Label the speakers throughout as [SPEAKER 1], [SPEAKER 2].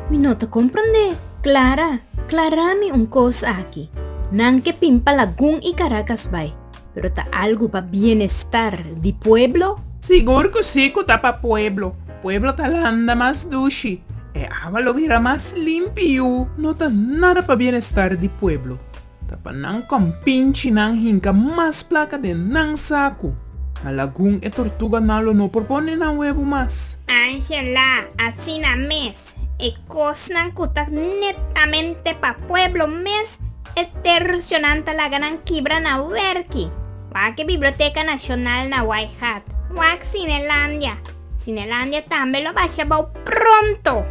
[SPEAKER 1] Mi no ta comprende. Clara, clara mi un cos aki. Nan ke pin pa Lagun y Caracas bay, pero ta algo pa bienestar di pueblo? Sigur cu si cu ta pa pueblo. Pueblo ta landa mas dushi. E agua lo bira mas limpi y. No ta nada pa bienestar di pueblo. Ta pa nan compinchi nan hinca mas placa den nan sacu. Na lagun e tortuga nan lo no por pone nan huevo mas. Angela, Asina mes, e cosnan cu ta netamente pa pueblo mes e tercionan ta laga nan kibra na werki. Wak e Biblioteca Nacional na White Hat, wak Cinelandia. Cinelandia tambe lo basha bao pronto.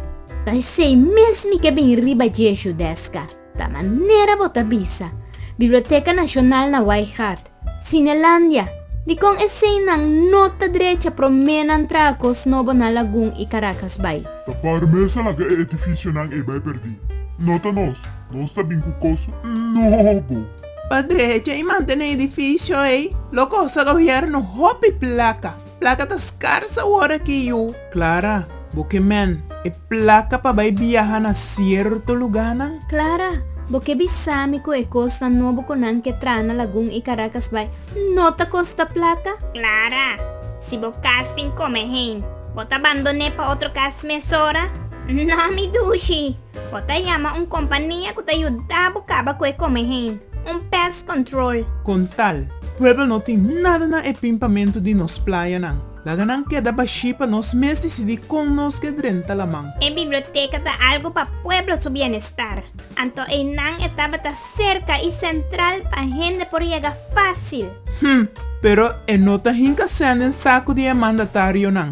[SPEAKER 1] Ta esey mes mi ke bin riba dje Judesca. Ta manera bo ta bisa. Biblioteka Nashonal na Wai Gaat, Sinelandia. Dikon eseinan no ta drecha promé nan traha kos nobo na Lagun i Karakas bai? Ta parmesa laga e edifisionan ei bai perdí. No ta nos. Nos ta bin ku kos nobo. Pa drecha i mantené e edifisio ei lo kosta gobièrnu hopi plaka. Plaka ta skars awor aki yu. Clara, Bo ke men e plaka pa bai biaha na sierto luganan? Clara, Bo ke bisa mi ku e kosnan nobo ku nan ke traha na lagun i Caracas bai no ta kosta plaka? Clara, Si bo kas tin kome heen, bo ta bandoné pa otro kas mesora? Na mi dushi! Bo ta yama un kompania ku ta yuda bo kaba ku e kome hende, un pest control. Kon tal, pueblo no tin nada na e pimpamentu di nos playanan. Laga nan keda bashí pa nos mes disidí kon nos ke drenta laman. E biblioteka ta algu pa pueblo su bienestar, anto einan e tabata serka i sentral pa hende por yega fásil. Hm, pero e no ta hinka sèn den saku di e mandatarionan.